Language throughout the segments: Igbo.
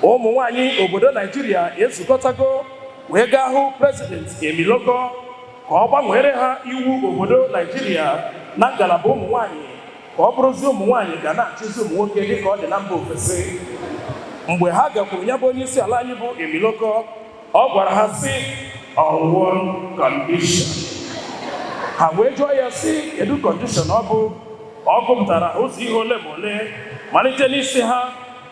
ụmụ nwanyị obodo naijiria ezukọtago wee gaa hụ president emilokan ka ọ gbanweere ha iwu obodo naijiria na ngalaba ụmụ nwanyị ka ọ bụrụzi ụmụ nwanyị ga na-achịzi ụmụ nwoke dịka ọ dị na mba ofesi mgbe ha gakwuru ya bụ onye isi ala anyị bụ emilokan ọ gwara ha sị on one condition ha wee jụọ ya sị kedu condition ọ bụ ọ gụpụtara ụzọ ihe ole ma ole malite n'isi ha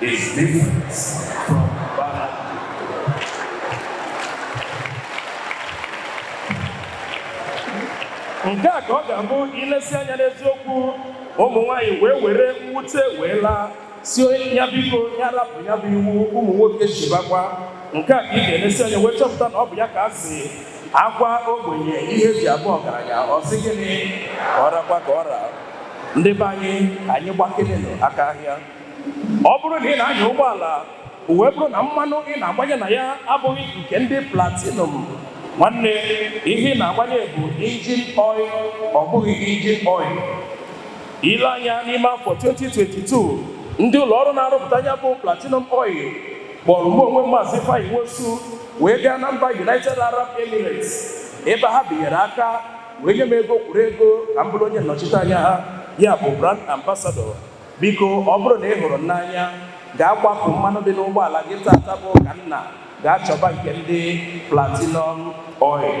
is different from Balablu. nke a ka ọ ga-abụ ilesi anya n'eziokwu ụmụ nwanyị wee were mwute wee laa sị ya biko ya rapụ ya bụ iwu ụmụ nwoke chịbakwa nke a ka ị ga-elesi anya wee chọpụta na ọ bụ ya ka a sị a gwa ogbenye ihe e ji abụ ọgaranya ọ sị gịnị ka ọ rakwa ka ọ ra ndị be anyị anyị gbakelenụ aka ahịa ọ bụrụ na ị na-anya ụgbọala o wee bụrụ na mmanụ ị na-agbanye na ya abụghị nke ndị platinum nwanne ihe ị na-agbanye bụ engine oil ọ bụghị engine oil i lee anya n'ime afọ 2022 ndị ụlọ ọrụ na-arụpụta ya bụ platinum oil kpọrọ mụ onwe m maazị Ifeanyi Nwosu wee gaa na mba United Arab Emirates ebe ha binyere aka wee nye m ego kwuru ego ka m bụrụ onye nnọchiteanya ha ya bụ brand ambassador Biko, ọ bụrụ na ị hụrụ m n'anya, gaa kwapụ mmanụ dị n'ụgbọala gị taata bụ ụka nna, gaa chọba nke ndị Platinum Oil.